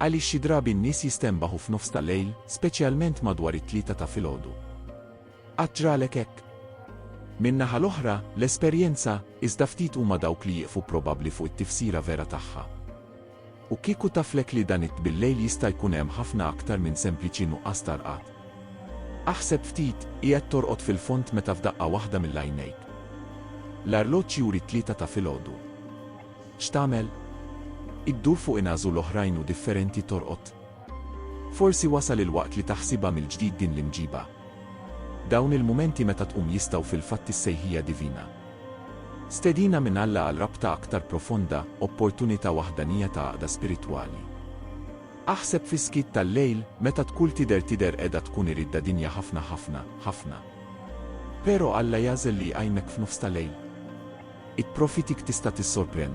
Għaliex xi drabi n-nies jistenbaħu f'nofs ta' lejl, speċjalment madwar it-tlieta ta' filgħodu? Qatt ġralek hekk? Min-naħa l-oħra, l-esperjenza, iżda ftit huma dawk li jieqfu probabbli fuq it-tifsira vera tagħha. U kieku taflek li dan it-tbillejl jista' jkun hemm ħafna aktar minn sempliċi nuqqas ta' rqad? Aħseb ftit, qiegħed torqod fil-fond meta f'daqqa waħda mill-għajnejk. L-arloġġ juri t-tlieta ta' filgħodu. X'tagħmel? Iddur fuq inagħżu l-oħrajn u differenti torqod? Forsi wasal il-waqt li taħsibha mill-ġdid din l-imġiba? Dawn il-mumenti meta tqum jistgħu fil-fatt is-sejħija divina. Stedina minn Alla għal rabta aktar profonda, opportunità waħdanija ta' għaqda spiritwali. Aħseb fis-skiet tal-lejl, meta tkull tidher tidher qiegħda tkun iridda dinja ħafna ħafna, ħafna. Pero Alla jagħżel li jqajmek f'nofs ta' lejl. It-profitik tista' tissorprenn.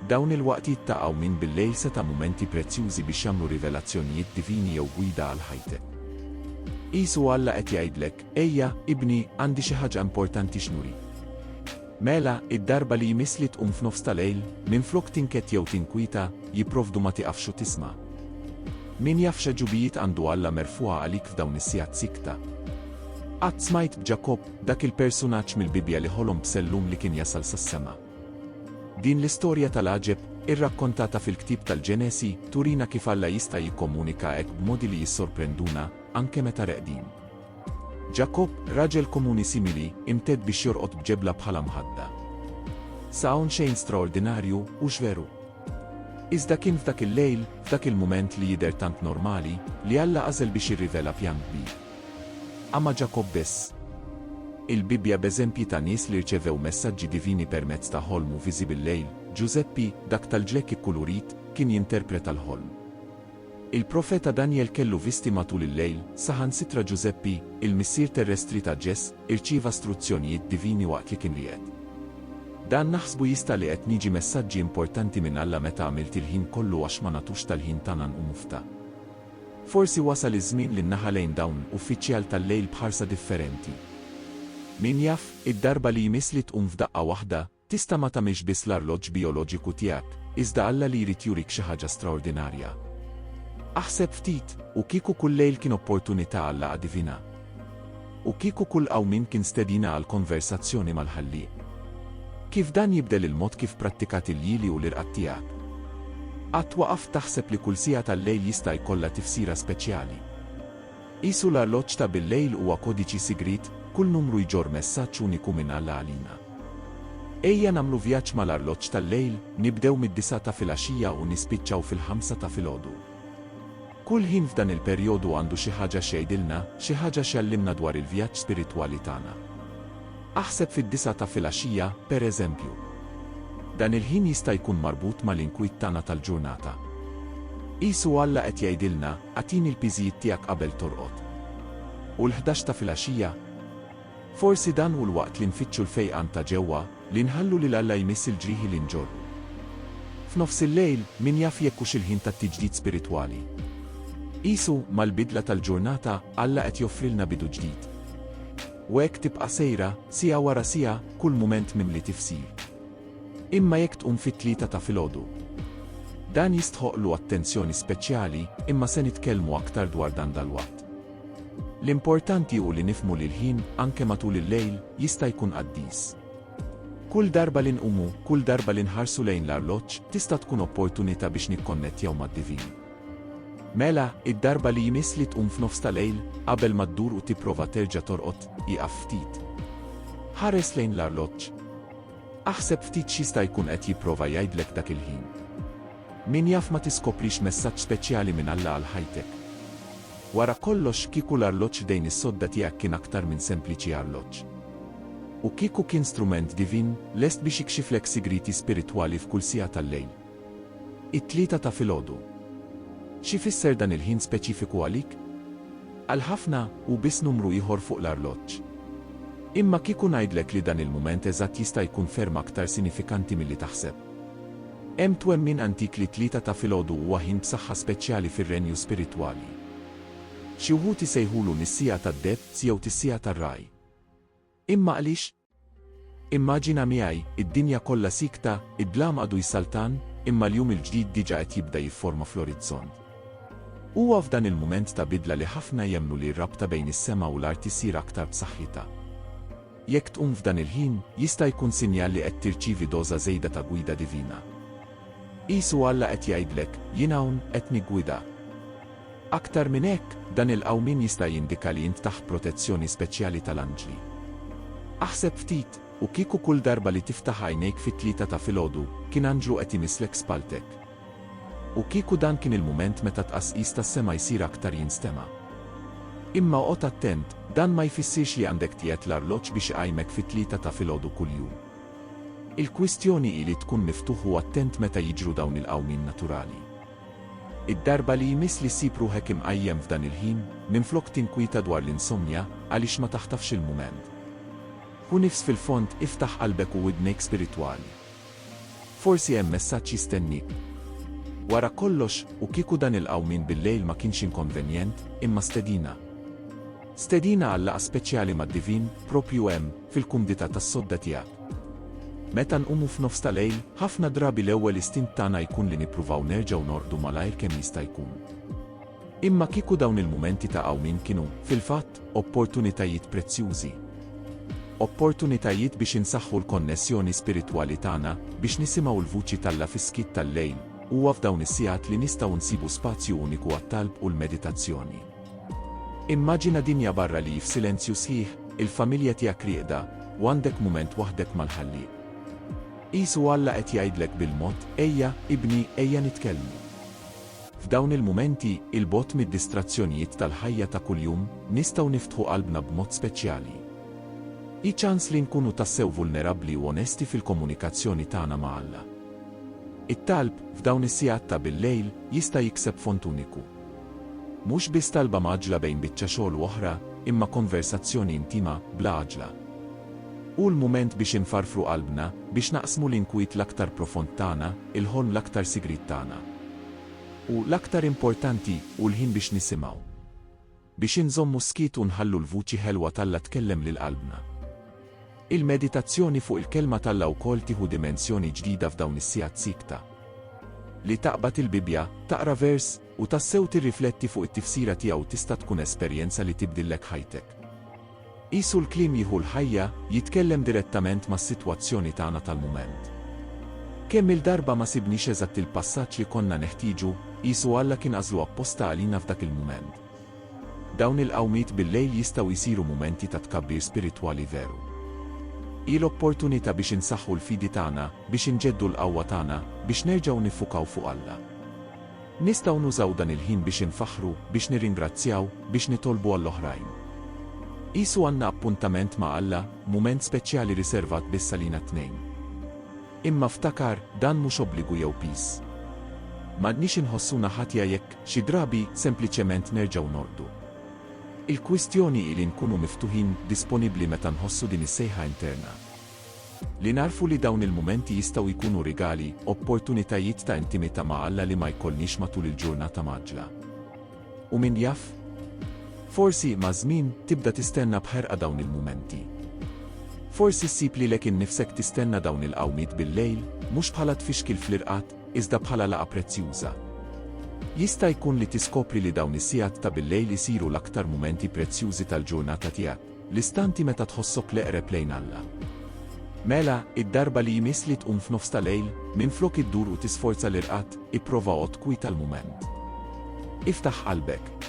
Dawn il-waqtiet ta' qawmien bil-lejl seta' mumenti prezzjużi biex jagħmlu rivelazzjonijiet divini jew gwida għal ħajtek. Qisu Alla qed jgħidlek, Ejja, ibni, għandi xi ħaġa importanti x'nurik. Mela, id-darba li jmiss li tqum f'nofs ta' lejl, minflok tinked jew tinkwieta, jipprovdu ma tieqafx u tisma'. Min jaf x'għeġubijiet għandu Alla merfugħa għalik f'dawn is-sigħat siekta. Qatt smajt b'Ġakobb, Dak il-persunaġġ mill-Bibbja li ħolom b'sellum li kien jasal sas-sema. Din l-istorja tal-għaġeb, irrakkontata fil-ktieb tal-Ġenesi, turina kif Alla jista' jikkomunika hekk b'modi li jissorprenduna, anke meta reqdin. Ġakobb, raġel komuni simili, imtedd biex jorqod b'ġebla bħala mħadda. Sa hawn xejn straordinarju, hux veru? Iżda kien f'dak il-lejl, f'dak il-mument li jidher tant normali, li Alla għażel biex jirrivela pjan kbir. Ama Ġakobb biss. Il-Bibbja b'eżempji ta' nies li rċevew messaġġi divini permezz ta' ħolm u viżi bil-lejl, Ġużeppi, dak tal-ġlekk ikkulurit, kien jinterpreta l-ħolm. Il-profeta Danjel kellu visti matul il-lejl, saħansitra Ġużeppi, il-missier terrestri ta' Ġes, irċieva struzzjonijiet divini waqt li kien riqed. Dan naħsbu jista' li qed niġi messaġġi importanti minn Alla meta għamilt il-ħin kollu għax ma nagħtux tal-ħin tagħna nqumu f'ta. Forsi wasal iż-żmien li nnaħa lejn dawn uffiċjal tal-lejl b'ħarsa differenti. Min jaf, id-darba li jmiss li tqum f'daqqa waħda, tista' ma tagħmilx biss l-arloġġ bijoloġiku tiegħek, iżda Alla li jrid jurik xi ħaġa straordinarja. Aħseb ftit, u kieku kull lejl kien opportunità għal laqgħa divina? U kieku kull qawmien kien stedina għal konversazzjoni mal-Ħallieq? Kif dan jibdel il-mod kif prattikat il-jieli u l-irqad tiegħek? Qatt waqaft taħseb li kull siegħa tal-lejl jista' jkollha tifsira speċjali? Qisu l-arloġġ ta' bil-lejl huwa kodiċi sigriet, kull numru jġorr messaġġ uniku minn Alla għalina. Ejja nagħmlu vjaġġ mal-arloġġ tal-lejl, nibdew mid-disgħa ta' filgħaxija u nispiċċaw fil-ħamsa ta' filgħodu. Kull ħin f'dan il-perjodu għandu xi ħaġa x'jgħidilna, xi ħaġa x'jgħallimna dwar il-vjaġġ spiritwali tagħna. Aħseb fid-disgħa ta' filgħaxija, pereżempju. Dan il-ħin jista' jkun marbut mal-inkwiet tagħna tal-ġurnata. Qisu Alla qed jgħidilna, Agħtini l-piżijiet tiegħek qabel torqod. U l-ħdax ta' filgħaxija? Forsi dan hu l-waqt li nfittxu l-fejqan ta' ġewwa, li nħallu lil Alla jmiss il-ġrieħi li nġorru. F'nofs il-lejl, min jaf jekk hux il-ħin tat-tiġdid spiritwali? Qisu, mal-bidla tal-ġurnata, Alla qed joffrilna bidu ġdid. U hekk tibqa' sejra, siegħa wara siegħa, kull mument mimli tifsir. Imma jekk tqum fit-tlieta ta' filgħodu? Dan jistħoqqlu attenzjoni speċjali, imma se nitkellmu aktar dwar dan dalwaqt. L-importanti hu li nifhmu li l-ħin, anke matul il-lejl, jista' jkun qaddis. Kull darba li nqumu, kull darba li nħarsu lejn l-arloġġ, tista' tkun opportunità biex nikkonnettjaw mad-divin. Mela, id-darba li jmiss li tqum f'nofs ta' lejl, qabel ma ddur u tipprova terġa' torqod, ieqaf ftit. Ħares lejn l-arloġġ. Aħseb ftit x'jista' jkun qed jipprova jgħidlek dak il-ħin. Min jaf ma tiskoprix messaġġ speċjali minn Alla għal ħajtek. Wara kollox, kieku l-arloġġ f'dejn is-sodda tiegħek kien aktar minn sempliċi arloġġ. U kieku kien strument divin, lest biex ikxiflek sigrieti spiritwali f'kull siegħa tal-lejl. It-tlieta ta' filgħodu. X'ifisser dan il-ħin speċifiku għalik? Għal ħafna, hu biss numru ieħor fuq l-arloġġ. Imma kieku ngħidlek li dan il-mument eżatt jista' jkun ferm aktar sinifikanti milli taħseb? Hemm twemmin antik li t-Tlieta ta' filgħodu huwa ħin b'saħħa speċjali fir-renju spiritwali. Xi wħud isejħulu nis-siegħa tad-debz jew tis-siegħa tar-ragħaj. Imma għaliex? Immaġina miegħi, id-dinja kollha siekta, id-dlam għadu jsaltan, imma l-jum il-ġdid diġà qed jibda jifforma fl-orizzont. Huwa f'dan il-mument ta' bidla li ħafna jemmnu li r-rabta bejn is-sema u l-art issir aktar b'saħħitha. Jekk tqum f'dan il-ħin, jista' jkun sinjal li qed tirċievi doża żejda ta' gwida divina. Qisu Alla qed jgħidlek, Jien hawn, qed niggwidak. Aktar minn hekk, dan il-qawmien jista' jindika li int taħt protezzjoni speċjali tal-anġli. Aħseb ftit, u kieku kull darba li tiftaħ għajnejk fit-tlieta ta' filgħodu, kien anġlu qed imisslek spalltek? U kieku dan kien il-mument meta t-tqasqis tas-sema jsir aktar jinstema'. Imma oqgħod attent, dan ma jfissirx li għandek tqiegħed l-arloġġ biex iqajmek fit-tlieta ta' filgħodu kuljum. Il-kwistjoni hi li tkun miftuħ u attent meta jiġru dawn il-qawmien naturali. Id-darba li jmiss li ssib ruħek imqajjem f'dan il-ħin, minflok tinkwieta dwar l-insomnja, għaliex ma taħtafx il-mument? Hu nifs fil-fond, iftaħ qalbek u widnejk spiritwali. Forsi hemm messaġġ jistenniek. Wara kollox, u kieku dan il-qawmien bil-lejl ma kienx inkonvenjent, imma stedina? Stedina għal laqgħa speċjali mad-Divin, proprju hemm, fil-kumdità tas-sodda tiegħek. Meta nqumu f'nofs ta' lejl, ħafna drabi l-ewwel istint tagħna jkun li nippruvaw nerġgħu norqdu malajr kemm jista' jkun. Imma kieku dawn il-mumenti ta' qawmien kienu, fil-fatt, opportunitajiet prezzjużi. Opportunitajiet biex insaħħu l-konnessjoni spiritwali tagħna, biex nisimgħu l-vuċi t'Alla fis-skiet tal-lejl, huwa f'dawn is-sigħat li nistgħu nsibu spazju uniku għat-talb u l-meditazzjoni. Immaġina dinja barra li hi f'silenzju sħiħ, il-familja tiegħek rieqda, u għandek mument waħdek mal-Ħallieq. Qisu Alla qed jgħidlek bil-mod, Ejja, ibni, ejja nitkellmu. F'dawn il-mumenti, 'il bogħod mid-distrazzjonijiet tal-ħajja ta' kuljum, nistgħu niftħu qalbna b'mod speċjali. Hi ċans li nkunu tassew vulnerabbli u onesti fil-komunikazzjoni tagħna ma' Alla. It-talb, f'dawn is-sigħat ta' bil-lejl, jista' jikseb fond uniku. Mhux biss talba mgħaġġla bejn biċċa xogħol u oħra, imma konversazzjoni intima, bla għaġla. Hu l-mument biex infarfru qalbna, biex naqsmu l-inkwiet l-aktar profond tagħna, Il-ħolm l-aktar sigriet tagħna. U l-aktar importanti hu l-ħin biex nisimgħu. Biex inżommu s-skiet u nħallu l-vuċi ħelwa t'Alla tkellem lil qalbna. Il-meditazzjoni fuq il-Kelma t'Alla wkoll tieħu dimensjoni ġdida f'dawn is-sigħat siekta. Li taqbad il-Bibbja, taqra vers, u tassew tirrifletti fuq it-tifsira tiegħu tista' tkun esperjenza li tibdillek ħajtek. Qisu l-kliem jieħu l-ħajja, jitkellem direttament mas-sitwazzjoni tagħna tal-mument. Kemm-il darba ma sibniex eżatt il-passaġġ li konna neħtieġu, qisu Alla kien għażlu apposta għalina f'dak il-mument. Dawn il-qawmiet bil-lejl jistgħu jsiru mumenti ta' tkabbir spiritwali veru. Hi l-opportunità biex insaħħu l-fidi tagħna, biex inġeddu l-qawwa tagħna, biex nerġgħu niffukaw fuq Alla. Nistgħu nużaw dan il-ħin biex infaħħru, biex nirringrazzjaw, biex nitolbu għall-oħrajn. Qisu għandna appuntament ma' Alla, mument speċjali riservat biss għalina t-tnejn. Imma ftakar, dan mhux obbligu jew piż. M'għandniex inħossuna ħatja jekk, xi drabi, sempliċement nerġgħu norqdu. Il-kwistjoni hi li nkunu miftuħin, disponibbli meta nħossu din is-sejħa interna. Li nagħrfu li dawn il-mumenti jistgħu jkunu rigali, opportunitajiet ta' intimità ma' Alla li ma jkollniex matul il-ġurnata mgħaġġla. U min jaf? Forsi, maż-żmien, tibda tistenna b'ħerqa dawn il-mumenti. Forsi ssib lilek innifsek tistenna dawn il-qawmiet bil-lejl, mhux bħala tfixkil fl-irqad, iżda bħala laqgħa prezzjuża. Jista' jkun li tiskopri li dawn is-sigħat ta' bil-lejl isiru l-aktar mumenti prezzjużi tal-ġurnata tiegħek. L-istanti meta tħossok l-eqreb lejn Alla. Mela, id-darba li jmiss li tqum f'nofs ta' lejl, minflok iddur u tisforza l-irqad, ipprova għodd kwiet għal mument. Iftaħ qalbek.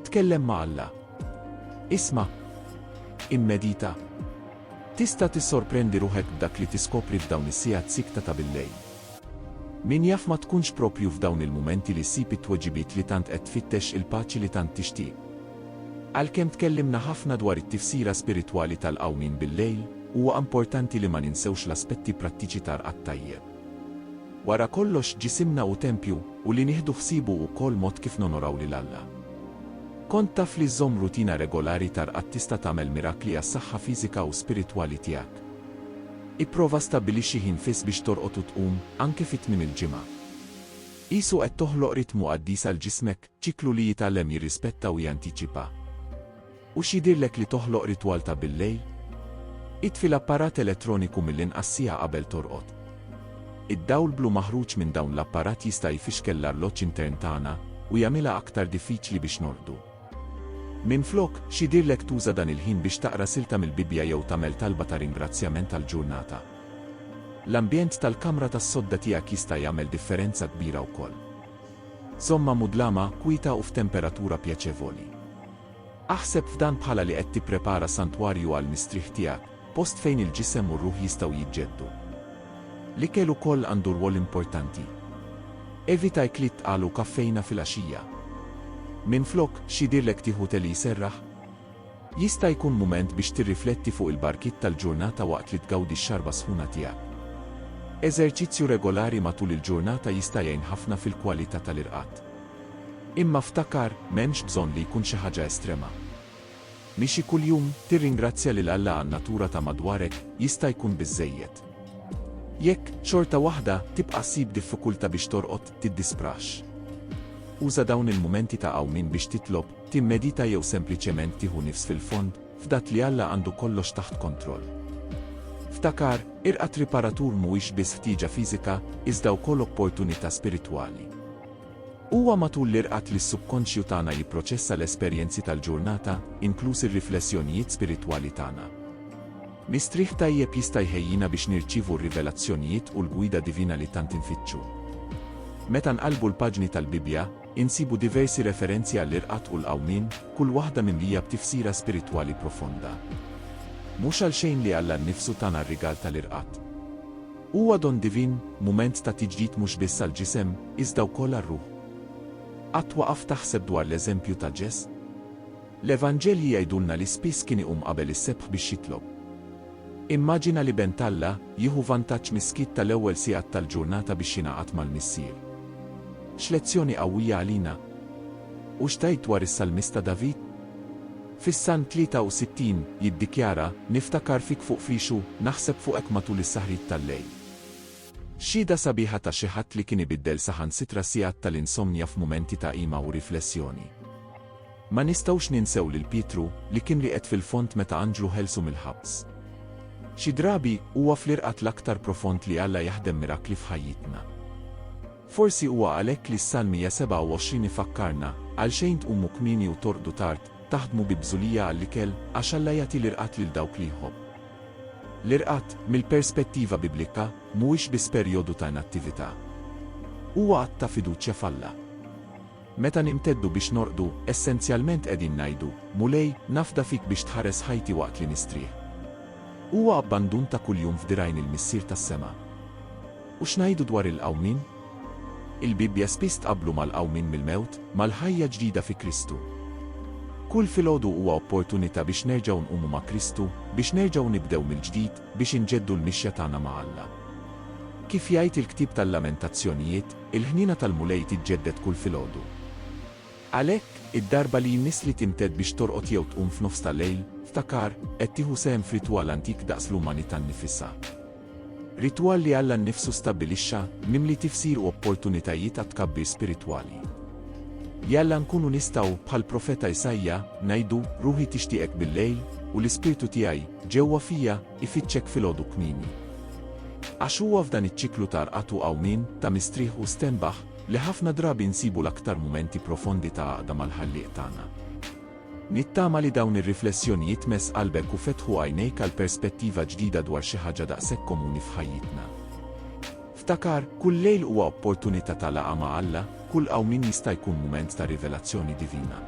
Tkellem ma' Alla. Isma'. Immedita. Tista' tissorprendi ruħek b'dak li tiskopri f'dawn is-sigħat siekta ta' bil-lejl. Min jaf ma tkunx proprju f'dawn il-mumenti li ssib it-tweġibiet li tant qed tfittex, il-paċi li tant tixtieq. Għalkemm tkellimna ħafna dwar it-tifsira spiritwali tal-qawmien bil-lejl, huwa importanti li ma ninsewx l-aspetti prattiċi ta' rqad tajjeb. Wara kollox, ġisimna hu tempju, u li nieħdu ħsiebu hu wkoll mod kif nonoraw lil Alla. Kont taf li żżomm rutina regolari ta' rqad tista' tagħmel mirakli għas-saħħa fiżika u spiritwali tiegħek? Ipprova stabbilixxi ħin fiss biex torqod u tqum, anke fi tmiem il-ġimgħa. Qisu qed toħloq ritmu qaddis għal ġismek. Ċiklu li jitgħallem jirrispetta u jantiċipa. U x'jidhirlek li toħloq ritwal ta' billejl? Itfi l-apparat elettroniku mill-inqas siegħa qabel torqod. Id-dawl blu maħruġ minn dawn l-apparat jista' jfixkel l-arloġġ intern tagħna u jagħmilha aktar diffiċli biex norqdu. Minflok, x'jidhirlek tuża dan il-ħin biex taqra silta mill-Bibbja jew tagħmel talba ta' ringrazzjament għall-ġurnata? L-ambjent tal-kamra tas-sodda tiegħek jista' jagħmel differenza kbira wkoll. Żommha mudlama, kwieta u f'temperatura pjaċevoli. Aħseb f'dan bħala li qed tipprepara santwarju għall-mistrieħ tiegħek, post fejn il-ġisem u r-ruħ jistgħu jiġġeddu. L-ikel ukoll għandu rwol importanti. Evita ikliet tqal u kaffejna fil-għaxija. Minflok, x'jidhirlek tieħu te li jserraħ? Jista' jkun mument biex tirrifletti fuq il-barkiet tal-ġurnata waqt li tgawdi x-xarba sħuna tiegħek. Eżerċizzju regolari matul il-ġurnata jista' jgħin ħafna fil-kwalità tal-irqad. Imma ftakar, m'hemmx bżonn li jkun xi ħaġa estrema. Mixi kuljum, tirringrazzja lil Alla għan-natura ta' madwarek jista' jkun biżżejjed. Jekk, xorta waħda, tibqa' ssib diffikultà biex torqod, tiddisprax. Uża dawn il-mumenti ta' qawmien biex titlob, Timmedita jew sempliċement tieħu nifs fil-fond, fdat li Alla għandu kollox taħt kontroll. Ftakar, irqad riparatur mhuwiex biss ħtieġa fiżika, iżda wkoll opportunità spiritwali. Huwa matul l-irqad li s-subkonxju tagħna jipproċessa l-esperjenzi tal-ġurnata, inkluż ir-riflessjonijiet spiritwali tagħna. Mistrieħ tajjeb jista' jħejjina biex nirċievu r-rivelazzjonijiet u l-gwida divina li tant infittxu. Meta nqallbu l-paġni tal-Bibbja, Insibu diversi referenzi għall-irqad u l-qawmien, kull waħda mimlija b'tifsira spiritwali profonda. Mhux għalxejn li Alla nnifsu tana r-rigal tal-irqad. Huwa don divin, mument ta' tiġdid mhux biss għall-ġisem, iżda wkoll għar-ruħ. Qatt waqaft taħseb dwar l-eżempju ta' Ġes? L-Evanġelji jgħidulna li spiss kien iqum qabel is-sebħ biex jitlob. Immaġina li Bent Alla jieħu vantaġġ mis-skiet tal-ewwel sigħat tal-ġurnata biex jingħaqad mal-Missier. X'lezzjoni qawwija għalina! U x'tgħid dwar is-salmista David? Fis-Salm 63, jiddikjara, Niftakar fik fuq fixu, naħseb fuqek matul is-saħrit tal-lejl. Xhieda sabiħa ta' xi ħadd li kien ibiddel saħansitra sigħat tal-insomnja f'mumenti ta' qima u riflessjoni. Ma nistgħux ninsew lil Pietru, li kien rieqed fil-fond meta anġlu ħelsu mill-ħabs. Xi drabi, huwa fl-irqad l-aktar profond li Alla jaħdem mirakli f'ħajjitna. Forsi huwa għalhekk li s-Salm 127 ifakkarna, Għalxejn tqumu kmieni u torqdu tard, taħdmu bi bżulija għall-ikel, għax Alla jagħti l-irqad lil dawk li jħobb. L-irqad, mill-perspettiva Biblika, mhuwiex biss perjodu ta' inattività. Huwa att ta' fiduċja f'Alla. Meta nimteddu biex norqdu, essenzjalment qegħdin ngħidu, Mulej, nafda fik biex tħares ħajti waqt li nistrieħ. Huwa abbandun ta' kuljum f'dirgħajn il-Missier tas-sema. U x'ngħidu dwar il-qawmien? Il-Bibbja spiss tqabblu mal-qawmien mill-mewt, mal-ħajja ġdida fi Kristu. Kull filgħodu huwa opportunità biex nerġgħu nqumu ma' Kristu, biex nerġgħu nibdew mill-ġdid, biex inġeddu l-mixja tagħna ma' Alla. Kif jgħid il-ktieb tal-Lamentazzjonijiet, il-ħniena tal-Mulej tiġġedded kull filgħodu. Għalhekk, id-darba li jmissli timtedd biex torqod jew tqum f'nofs ta' lejl, ftakar, qed tieħu sehem f'ritwal antik daqs l-umanità nnifisha. Ritwal li Alla nnifsu stabbilixxa, mimli tifsir u opportunitajiet għat-tkabbir spiritwali. Jalla nkunu nistgħu, bħall-profeta Isaija, ngħidu, Ruħi tixtieqek billejl, u l-ispirtu tiegħi, ġewwa fija, ifittxek filgħodu kmieni. Għax huwa f'dan iċ-ċiklu ta' rqad u qawmien, ta' mistrieħ u stenbaħ, li ħafna drabi nsibu l-aktar mumenti profondi ta' għaqda mal-Ħallieq tagħna. Nittama li dawn ir-riflessjonijiet mess qalbek u fetħu għajnejk għal perspettiva ġdida dwar xi ħaġa daqshekk komuni f'ħajjitna. Ftakar, kull lejl huwa opportunità ta' laqgħa ma' Alla, kull qawmien jista' jkun mument ta' rivelazzjoni divina.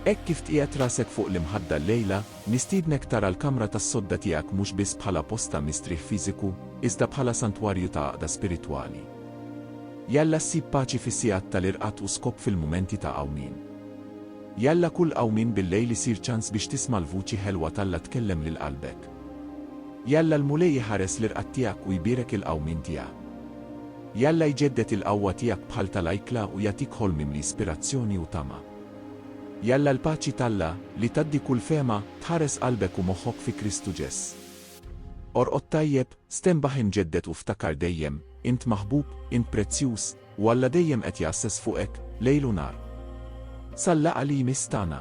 Hekk kif tqiegħed rasek fuq l-imħadda llejla, nistiednek tara l-kamra tas-sodda tiegħek mhux biss bħala post ta' mistrieħ fiżiku, iżda bħala santwarju ta' għaqda spiritwali. Jalla ssib paċi fis-sigħat tal-irqad u skop fil-mumenti ta' qawmien. Jalla kull qawmien bil-lejl isir ċans biex tisma' l-vuċi ħelwa t'Alla tkellem lil qalbek. Jalla l-Mulej iħares l-irqad tiegħek u jbierek il-qawmien tiegħek. Jalla jġedded il-qawwa tiegħek bħal tal-ajkla u jagħtik ħolm mimli ispirazzjoni u tama. Jalla l-paċi t'Alla, li tgħaddi kull fehma, tħares qalbek u moħħok fi Kristu Ġeż. Orqod tajjeb, stenbaħ imġedded u ftakar dejjem, int maħbub, int prezzjuż, U Alla dejjem qed jgħasses fuqek, lejl u nhar. Sal-laqgħa li jmiss tagħna.